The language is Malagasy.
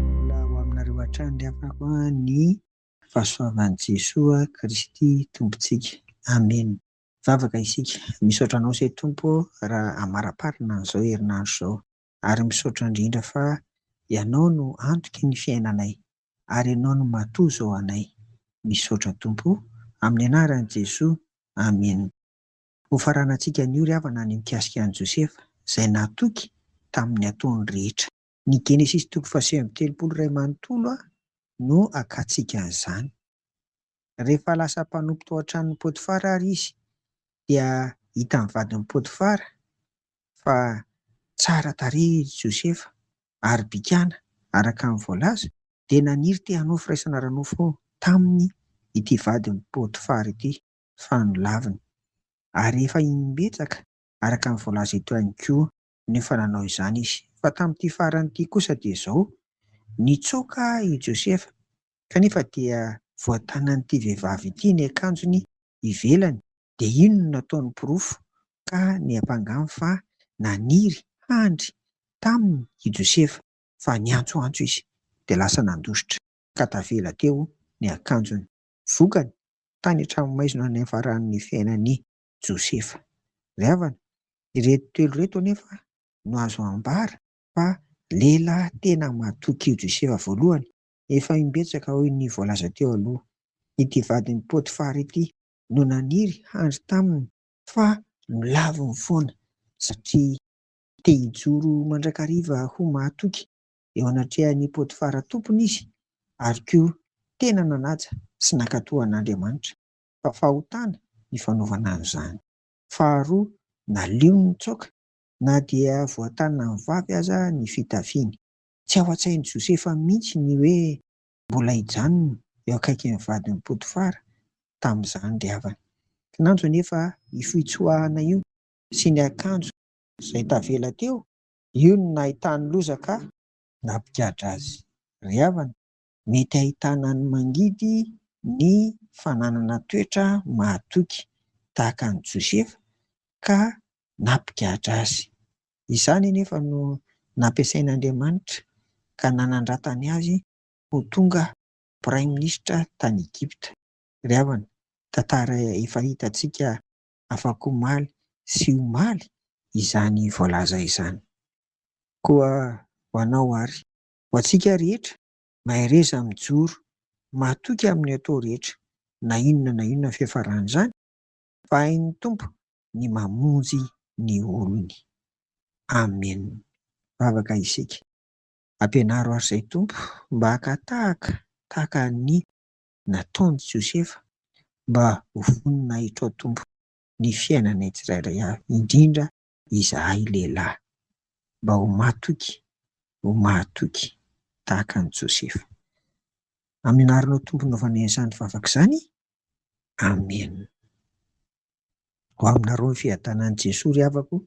Mbola ho aminareo hatrany ry havako a ny fahasoavan'i Jesoa Kristy Tompontsika. Amena. Vavaka isika. Misaotra Anao se Tompo raha amaraparina an'izao herinandro izao. Ary misaotra indrindra fa Ianao no antoky ny fiainanay. Ary Ianao no matoa izao anay. Misaotra Tompo o. Amin'ny anaran'i Jesoa. Amena. Hofaranantsika anio ry havana ny mikasika an'i Josefa, izay natoky tamin'ny ataony rehetra. Ny Genesisy toko fahasivy amby telopolo iray manontolo no akantsika an'izany. Rehefa lasa mpanompo tao an-tranon'i Potifara àry izy, dia hitan'ny vadin'i Potifara fa tsara tarehy i Josefa, ary bikàna, araka ny voalaza, dia naniry te-hanao firaisana ara-nofo taminy ity vadin'i Potifara ity. fa nolaviny. Ary efa imbetsaka, araka ny voalaza eto ihany koa, no efa nanao izany izy. Fa tamin'ity farany ity kosa dia izao, Nitsoaka i Josefa, kanefa dia voatanan'ity vehivavy ity ny akanjony ivelany, dia iny no nataony porofo ka niampangany fa naniry handry taminy i Josefa, fa niantsoantso izy, dia lasa nandositra, ka tavela teo ny akanjony. Vokany, tany an-tranomaizina niafarany ny fiainan'i Josefa. Ry havana, ireto telo ireto anefa no azo ambara fa lehilahy tena matoky io Josefa voalohany, efa imbetsaka hoy ny voalaza teo aloha. Ity vadin'i Potifara ity no naniry handry taminy fa nolaviny foana satria te hijoro mandrakariva ho mahatoky eo anatrehan'i Potifara tompony izy, ary koa tena nanaja sy nankatò an'Andriamanitra, fa fahotana ny fanaovana an'izany. Faharoa, naleony nitsaoka na dia voatanan'ny vavy aza ny fitafiany. Tsy ao an-tsain'i Josefa mihitsy ny hoe mbola hijanona eo akaikin'ny vadin'i Potifara tamin'izany ry havana. Kinanjo anefa io fitsoahana io sy ny akanjo izay tavela teo Io no nahitany loza ka. Nampigadra azy ry havana. Mety ahitana ny mangidy ny fananana toetra mahatoky tahaka an'i Josefa ka nampigadra azy. Izany anefa no nampiasain'Andriamanitra ka nanandratany azy ho tonga Praiminisitra tany Egypta. Ry havana, tantara efa hitantsika afakomaly sy omaly izany voalaza izany. Koa ho anao ary. Ho antsika rehetra, mahereza mijoro matoky amin'ny atao rehetra, na inona na inona ny fiafaran'izany, fa hain'ny Tompo ny mamonjy ny olony. Amen. Vavaka isika. Ampianaro ahy Ray Tompo mba haka tahaka, tahaka an'i. nataon'i Josefa mba ho voninahitro ao Tompo ny fiainanay tsirairay avy, indrindra izahay lehilahy, mba ho mahatoky, ho mahatoky tahaka an'i Josefa. Amin'ny anaranao Tompo no hanaovanay izany vavaka izany, Amen. Ho aminareo ny fiadanan'i Jesoa ry havako o.